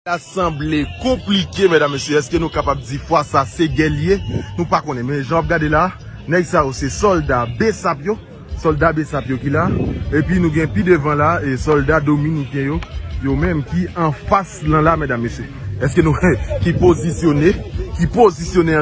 Sa sanble konplike medam mesye eske nou kapab di fwa sa se gè li ye nou pa konnen men jan wap gade la nèg sa yo se sòlda besap yo sòlda besap yo ki la epi nou gen pi devan la e sòlda dominiken yo yo menm ki anfas lan la medam mesye eske nou ki pozisyone ki pozisyone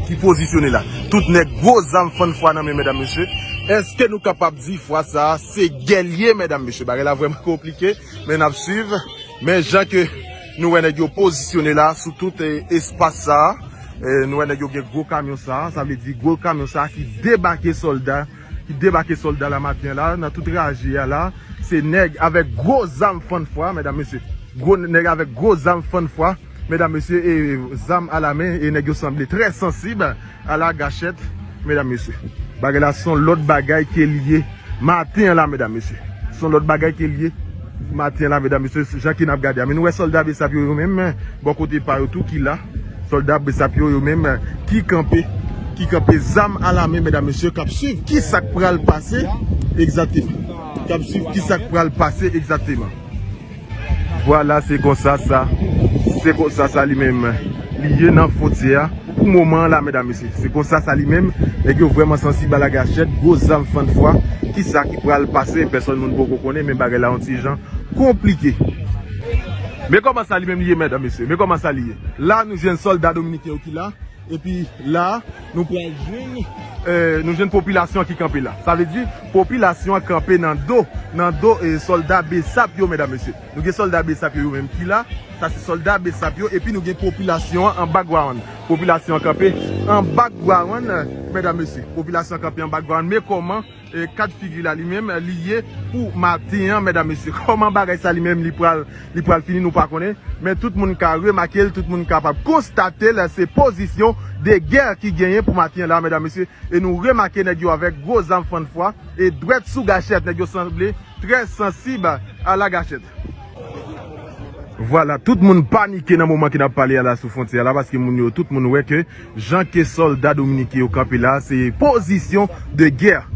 ki pozisyone la tout nèg gwo zam fann fwa nan men medam mesye eske nou kapab di fwa sa se gè li ye medam mesye bagay la vrèman konplike. Men nap swiv. Men jan ke nou wè nèg yo pozisyone la sou tout espas sa. Nou wè nèg yo gen gwo kamyon sa. Sa vle di gwo kamyon sa ki debake solda. Ki debake solda la maten la. Nan tout raje a la. Se nèg avèk gwo zam fann fwa. Medam mesye. Gwo nèg avèk gwo zam fann fwa. medam mesye e zam a la men e nèg yo sanble trè sansib a la gachèt medam mesye bagay la son lòt bagay ke li ye maten an la medam mesye son lòt bagay ke li ye maten an la medam mesye jan ke nap gade a men nou wè sòlda bsap yo yo men men bò kote pa yo tou ki la sòlda bsap yo yo men men ki kanpe ki kanpe zam a la men medam mesye kap swiv ki sak pral pase egzateman kap swiv ki sak pral pase egzateman. Vwala se konsa sa Se konsa sa li menm Li ye nan fontyè a Pou moman an la medam mesye Se konsa sa li menm Nèg yo vrèman sansib a lage achèt Gwo zam fann fwa Kisa ki pral pase Pèsòn moun poko konnen Men bagay la on ti jan Konplike Men kòman sa li menm li ye medam mesye Men kòman sa li ye La nou jwenn sòlda dominiken yo ki la. Epi la nou pral jwenn nou jwenn popilasyon ki kanpe la. Sa vle di popilasyon an kanpe nan do nan do sòlda besap yo medam mesye. Nou gen sòlda besap yo yo menm ki la. Sa se sòlda besap yo epi nou gen popilasyon an an background. Popilasyon an kanpe an background medam mesye. Popilasyon an kanpe an background me kòman. Kad figi la li menm li ye pou maten an medam mesye kòman bagay sa li menm li pral li pral fini nou pa konnen men tout moun ka remake l tout moun kapab konstate l se pozisyon de gè ki genyen pou maten an la medam mesye e nou remake nèg yo avèk gwo zam fann fwa e dwèt sou gachèt nèg yo sanble trè sansib a la gachèt. Vwala tout moun panike nan moman ke nap pale a la sou fwontyè a la paske moun yo tout moun wè ke Jan ke solda dominike yo kanpe la se position de guerre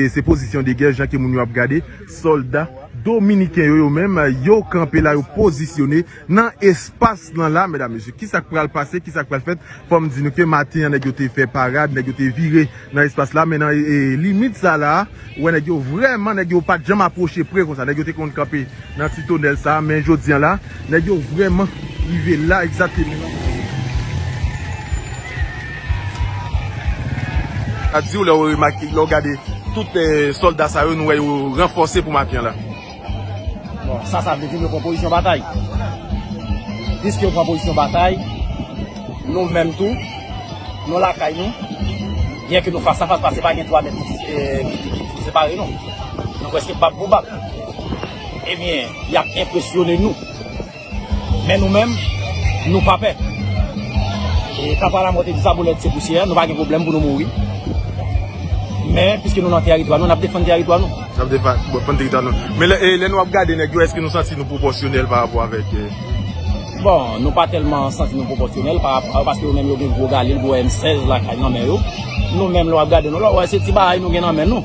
se position de guerre jan ke moun yo ap gade solda dominiken yo yo menm yo kanpe la yo positione nan espas lan la medam mesye kisa k pral pase kisa k pral fèt fòm di nou ke maten an nèg yo te fè parad nèg yo te vire Nan espas la men nan limit sa la ou wè nèg yo vrèman nèg yo pat janm apwoche pre konsa nèg yo te konn kanpe nan ti tonèl sa men jodi an la nèg yo vrèman rive la egzateman nan kote yo ta diw lèw remake lèw gade tout sòlda sa yo nou wè yo ranfòse pou maten an la. Bon, sa sa vle di nou pran pozisyon batay. Piske yo pran pozisyon batay, nou menm tou, nou lakay nou, byen ke nou fas a fas paske pa gen 3 mèt ki separe nou. Nou preske bab pou bab. Ebyen, y ap enpresyone nou. Men nou menm, nou pa pè. E Papa Lamò te di sa boulèt se pousyè, nou pa gen pwoblèm pou nou mouri. Men, piske nou nan teritwa nou, n ap defann teritwa nou. N ap defann teritwa nou. Men lè nou ap gade nèg yo, èske nou santi nou pwopòsyonèl parapò avèk? Bon, nou pa tèlman santi nou pwopòsyonèl parapò, paske yo menm yo gen gwo galil, gwo M-16 lakay nan men yo. Nou menm lè w ap gade nou la, w wè se ti bagay nou gen nan men nou.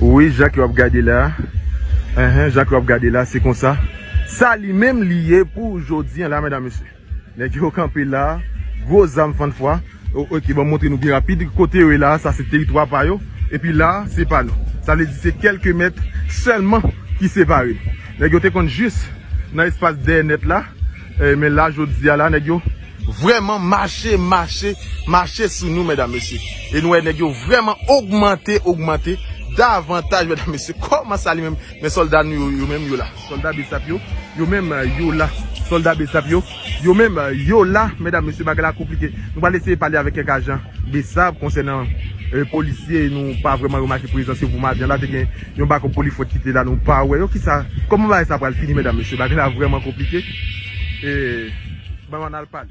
Wi Jacques yo ap gade la Enhen Jacques yo ap gade la se konsa Sa li menm li ye pou jodi an la medam mesye Nèg yo kanpe la Gwo zam fann fwa Ok banm montre nou pi rapid Kote yo ye la sa se teritwa pa yo Epi la se pa nou Sa vle di se kelke mèt sèlman ki separe Nèg yo te konn jis nan espas dèyè nèt la Men la jodi a la nèg yo Vrèman mache mache mache sou nou mèdam mesye e nou wè nèg yo vrèman ogmante ogmante davantaj mèdam mesye kòman sa li menm men sòlda nou yo yo menm yo la sòlda bsap yo yo menm yo la sòlda bsap yo yo menm yo la mèdam mesye bagay la konplike nou pral eseye pale avèk kèk ajan bsap konsènan polisye nou pa vrèman remake prezans yo pou maten an la te gen Yon bako polifwèt kite la nou pa wè yo kisa kòman bagay sa pral fini medam mesye bagay la vrèman konplike ee ban anal pale.